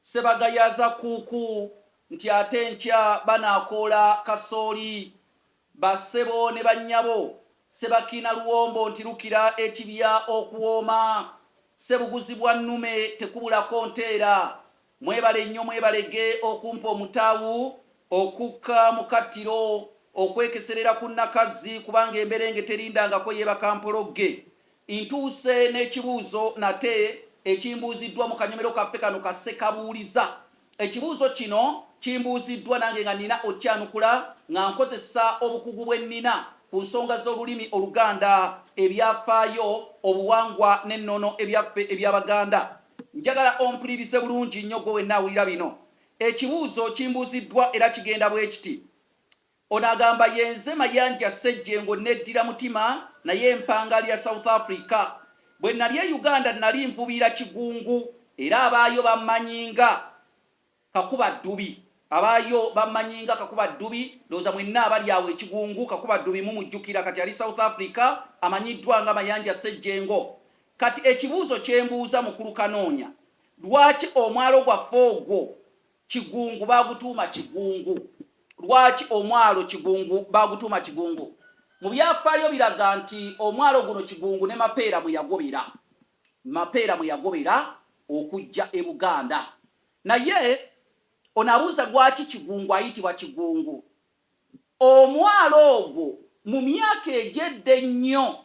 Ssebagayaaza Kkuuku nti ate enkya banaakoola kasooli. Ba ssebo ne ba nnyabo Ssebakiina luwombo nti lukira ekibya okuwooma. Ssebuguzi bwa nnume tekubulako nteera. Mwebale nnyo mwebalege okumpa omutawu okukka mu kattiro okwekeserera ku Nakazzi kubanga emberenge terindangako yebaka mpologge Ntuuse n'ekibuuzo nate ekimbuuziddwa mu kanyomero kaffe kano ka Ssekabuuliza. Ekibuuzo kino kimbuuziddwa nange nga nnina okukyanukula nga nkozesa obukugu bwe nnina ku nsonga z'olulimi Oluganda, ebyafaayo, obuwangwa n'ennono ebyaffe eby'Abaganda. Njagala ompulirize bulungi nnyo ggwe wenna awulira bino. Ekibuuzo kimbuuziddwa era kigenda bwe kiti, Ono agamba yenze Mayanja Ssejjengo nneddira mutima naye mpanga lya South Africa. Bwe nnali e Uganda nnali nvubiira Kigungu era abaayo bammanyi nga Kakuba Ddubi. Abaayo bammanyi nga Kakuba Ddubi. Ndowooza mwenna abali awo e Kigungu Kakuba Ddubi mumujjukira. Kati ali South Africa amanyiddwa nga Mayanja Ssejjengo. Kati ekibuuzo kye mbuuza Mukulu Kanoonya, lwaki omwalo gwaffe ogwo Kigungu baagutuuma Kigungu. Lwaki omwalo Kigungu baagutuuma Kigungu? Mu byafaayo biraga nti omwalo guno Kigungu ne Mapeera mwe yagobera Mapeera mwe yagobera okujja e Buganda. Naye ono abuuza lwaki Kigungu ayitibwa Kigungu. Omwalo ogwo mu myaka egy'edda ennyo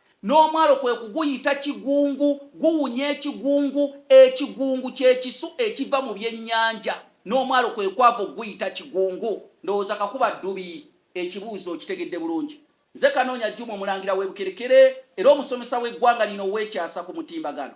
N'omwalo kwe kuguyita Kigungu. Guwunya ekigungu. Ekigungu kye kisu ekiva mu byennyanja. N'omwalo kwe kwava okuguyita Kigungu. Ndowooza Kakuba Ddubi ekibuuzo okitegedde bulungi. Nze Kanoonya Juma Omulangira w'e Bukerekere era omusomesa w'eggwanga lino ow'ekyasa ku mutimbagano.